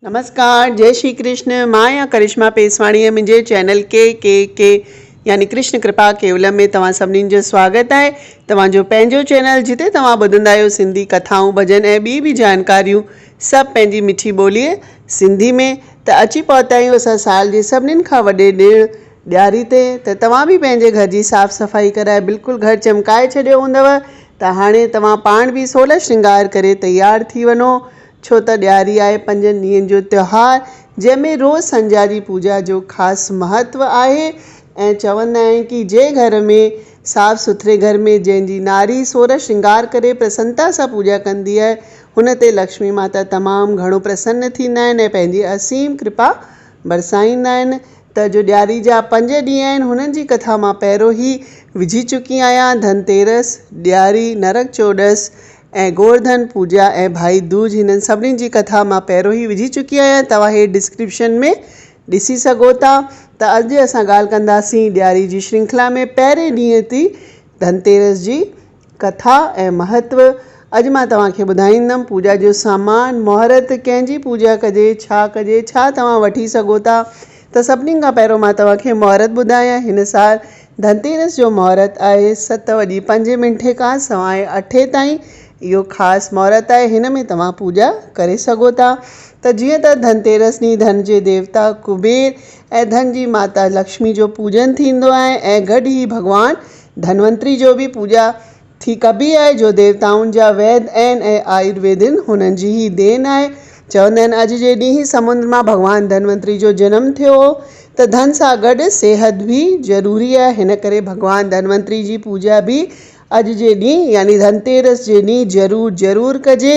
نمسڪار جئي شري ڪرشن مان آهيان ڪرشما پيسواڻي ۽ منهنجي چينل ڪي ڪي ڪي يعني ڪرشن ڪرپا ڪيولم ۾ توهان سڀني جو سواگت آهي توهان جو پنهنجو چينل جتي توهان ٻڌندا آهيو سنڌي ڪٿائون ڀڄن ۽ ٻي به جانڪاريون سڀ پنهنجي مٺي ٻولي سنڌي ۾ ته اچي پهتا آهيون اسان سال جي سڀنين کان وڏي ڏيڻ ڏياري تي ته توهان به پنهنجي گهر جي صاف صفائي ڪرائي بلڪل گهر چمڪائي ڇڏيو هوندو ته هاڻي توهان پاڻ به سولهه شرنگار ڪري تيار ٿي وڃو ڇو ته ڏياري آهي پنجن ڏينهن جو تهوار جنهن ۾ روز سنجاري پوڄا جو خاص مهتو آهي ۽ چوندا آهن ڪي جنهن گهر ۾ صاف سٿري گهر ۾ جنهن جي ناري سورهه شنگار ڪري پرسنتا سان پوڄا ڪندي آهي هن تي لڪشمي ماتا تمام گهڻو پرسن ٿيندا آهن ۽ پنهنجي اسيم ڪرپا برسائيندا آهن ته جو ڏياري جا پنج ڏينهن آهن هنن جي ڪٿا مان پهريون هي وجهي چڪي آهيان ڌن تيرس، ڏياري، نرڪ چوڏس ۽ گورڌن پوڄا ۽ ڀائي دوج هنن سڀني جي ڪٿا مان پهريون ئي وجهي چڪي آهيان توهان هي ڊسڪرپشن ۾ ڏسي سگهو ٿا ته اڄ اسان ڳالهه ڪنداسين ڏياري جي شرنکلا ۾ پهرين ڏينهن تي ڌنتيرس جي ڪٿا ۽ مهتو اڄ مان توهان کي ٻڌائيندم پوڄا جو سامان مهورت ڪنهن جي پوڄا ڪجي ڇا ڪجي ڇا توهان وٺي سگهو ٿا ته سڀني کان پهريون مان توهان کي مهورت ٻڌايان هن سال ڌنتيرس جو مهورت آهي ست وڄي پنج منٽ کان سواء اٺي تائين. اهو خاص مهورت آهي هن ۾ توهان پوڄا ڪري سگهو ٿا ته جيئن ته ڌنتيرس ڏينهن ڌن جي ديوتا ڪبير ۽ ڌن جي ماتا لڪشمي جو پوڄن ٿيندو آهي ۽ گڏ هي ڀڳوان ڌنونتري جو به پوڄا ٿي ڪبي آهي جو ديوتائن جا ويد ۽ آيورويدن هنن جي ئي دين آهي. چوندا آهن اڄ جي ڏينهن سمنڊ مان ڀڳوان ڌنونتري جو جنم ٿيو هو ته ڌن سان گڏ صحت به ضروري آهي هن ڪري ڀڳوان ڌنونتري جي پوڄا به اڄ جي ڏينهن يعني ڌنتيرس جي ڏينهن ضرور ضرور ڪجي.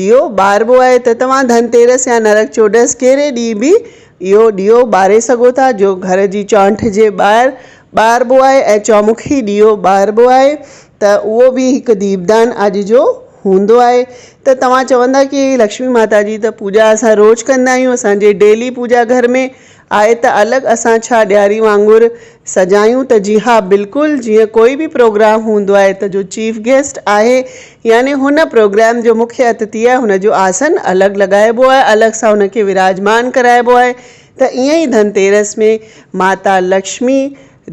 ڏيئو ٻاربو آهي ته توهان ڌن تيرس يا نرڪ چوڏس ڪهڙي ڏينهن به اهو ڏيئو ٻاري سگهو ٿا جو گهر جي چؤنٺ جي ٻاهر ٻاربو آهي ۽ چؤمکي ڏيئو ٻاربو آهي ته اهو به هڪ ديپدان اڄ جو هوندو آهي ته توهان چوندا ڪي لڪشمي ماتا جي ته پوڄا اسان روز ڪندا آهيون اسان جي ڊيلي پوڄا گهر ۾ آهي ته الڳ اسان ڇا ڏياري وانگر سجايون ته جي ها بلڪل جيئن ڪوئي به پروگرام هوندو آهي ته جو چيف گيسٽ آهي يعني هن پروگرام جو مکيه اتتي آهي هن جو آسن الڳ لڳائبو آهي الڳ سان هن کي وراجمان ڪرائبو آهي ته ائين ئي ڌن تيرس ۾ ماتا لڪشمي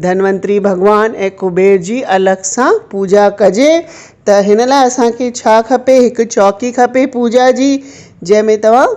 ڌنونتري ڀڳوان ۽ ڪبير جي الڳ سان پوڄا ڪجي ته هن لاء اسان کي ڇا کپي هڪ چوڪي کپي پوڄا جي جنهن ۾ توهان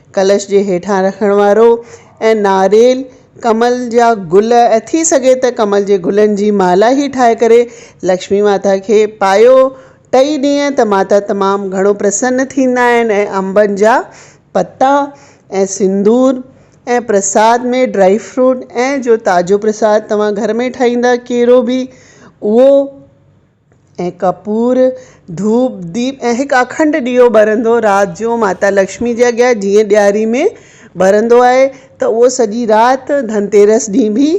ڪلش جي هيٺان رکڻ وارو ۽ ناريل، ڪمل جا گل ۽ ٿي سگهي ته ڪمل جي گلن جي مالا هي ٺاهي ڪري لڪشمي ماتا کي پايو. ٽئي ڏينهن ته ماتا تمام گهڻو پرسن ٿيندا آهن ۽ انبن جا پتا ۽ سندور ۽ پرساد ۾ ڊرائي فروٽ ۽ جو تازو پرساد توهان گهر ۾ ٺاهيندا ڪيرو به اهو ۽ ڪپور، ڌوپ، ديپ ۽ هڪ اکنڊ ڏيئو ٻرندو رات جو ماتا لڪشمي جي اڳيان جيئن ڏياري ۾ ٻرندو آهي ته اهو سڄي رات ڌنتيرس ڏينهن به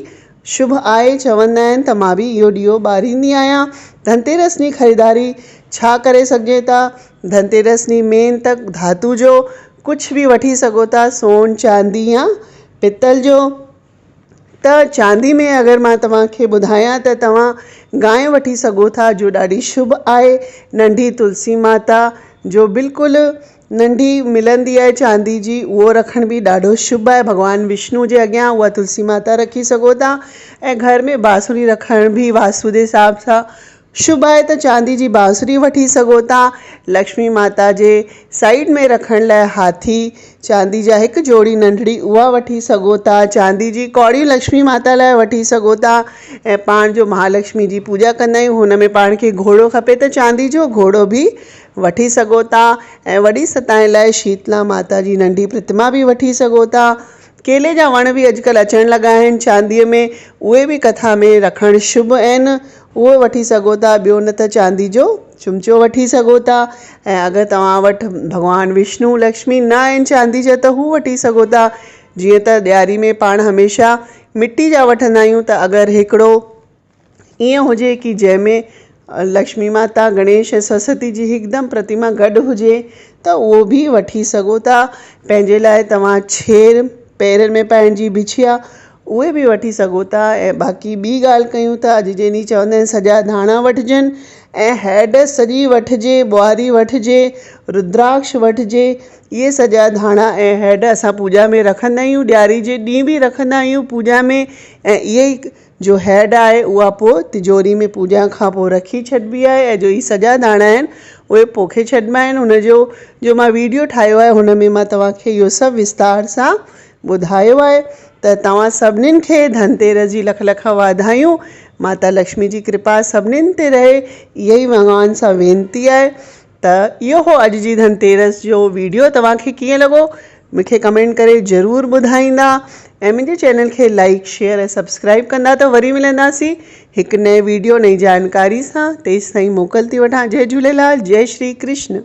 شڀ آهي. چوندا آهن ته مان به اهو ڏيئو ٻاريندي آهيان. ڌنتيرس ڏينهن خريداري ڇا ڪري سگهجي ٿا؟ ڌنتيرس ڏينهن مين ته ڌاتو جو ڪجهه به وٺي سگهو ٿا سون، چاندي يا پتل جو. ته چاندي ۾ اگر مان توهان کي ٻڌايان ته توهان گانء وٺي سگهو ٿا جو ڏاڍي شڀ آهي. ننڍي تلسي ماتا جو بلڪل ننڍي ملندي آهي چاندي جي اهو رکڻ به ڏاڍو شڀ آهي. ڀڳوان وشنو جي اڳيان اها تلسي ماتا رکي سگهو ٿا ۽ گهر ۾ بانسري رکڻ به واسودي حساب سان شڀ آهي ته چاندي جي بانسري وٺي سگهو ٿا. لڪشمي ماتا جي سائيڊ ۾ رکڻ لاء هاٿي چاندي جا هڪ جوڙي ننڍڙي اها وٺي سگهو ٿا. چاندي جي ڪوڙيون لڪشمي ماتا لاء وٺي سگهو ٿا ۽ پاڻ جو مهالڪشمي جي پوڄا ڪندا آهيون هن ۾ پاڻ کي گهوڙو کپي ته چاندي جو گهوڙو به وٺي سگهو ٿا ۽ وڏي ستائن لاء شيتلا ماتا جي ننڍي پرتما به وٺي سگهو ٿا. ڪيلي جا وڻ به اڄڪلهه اچڻ لڳا آهن چاندي ۾ اهي به ڪٿا ۾ رکڻ شڀ آهن اهو وٺي سگهو ٿا ٻيو نه ته چاندي جو چمچو وٺي سگهو ٿا ۽ اگر توهان وٽ ڀڳوان وشنو لڪشمي نه آهن چاندي جا ته هو وٺي سگهو ٿا جيئن ته ڏياري ۾ پاڻ هميشه مٽي جا وٺندا آهيون ته اگر هڪڙو ائين هجي ڪي جنهن ۾ لڪشمي ماتا گڻيش ۽ سرسوتي جي هڪدم پرتيما گڏ هجي ته اهو به وٺي سگهو ٿا پنهنجي لاء توهان ڇير پيرن ۾ پائڻ جي بڇيا اهي به وٺي سگهو ٿا ۽ باقي ٻي ڳالهه ڪيون ٿا اڄ جي ڏينهن چوندا آهن سڄا ڌاڻا وٺجن ۽ هيڊ سڄي وٺجي ٻوهاري وٺجي رودراڪش وٺجي اهي سڄا ڌاڻا ۽ هيڊ اسان پوڄا ۾ رکندا آهيون ڏياري جي ڏينهن به رکندا آهيون پوڄا ۾ ۽ اهي ئي جو هيڊ آهي اها پوء تجوري ۾ پوڄا کان پوء رکي ڇڏبي آهي ۽ جو هي سڄا ڌاڻا آهن اهي پوکي ڇڏبا آهن هن جو جو مان ويڊيو ٺاهيو آهي هن ۾ مان توهان کي اهو سڀ وستار سان ٻڌايو آهي ته توهان سڀنين کي ڌنتيرس جي لک لک واڌايون. ماتا لڪشمي جي ڪرپا سڀنين تي رهي. اها ئي ڀڳوان سان وينتي آهي. ته اهو هو اڄ جي ڌنتيرس جو ويڊيو توهان کي ڪيئن لڳو مون کي ڪمينٽ ڪري ضرور ٻڌائيندا ۽ منهنجي چينل کي لائيڪ شيئر ۽ سبسڪرائيب ڪندا ته وري ملنداسين هڪ نئين ويڊيو نئين جانڪاري سان تيستائين موڪل ٿي وٺان جئي جهوليلال جئي شري ڪرشن.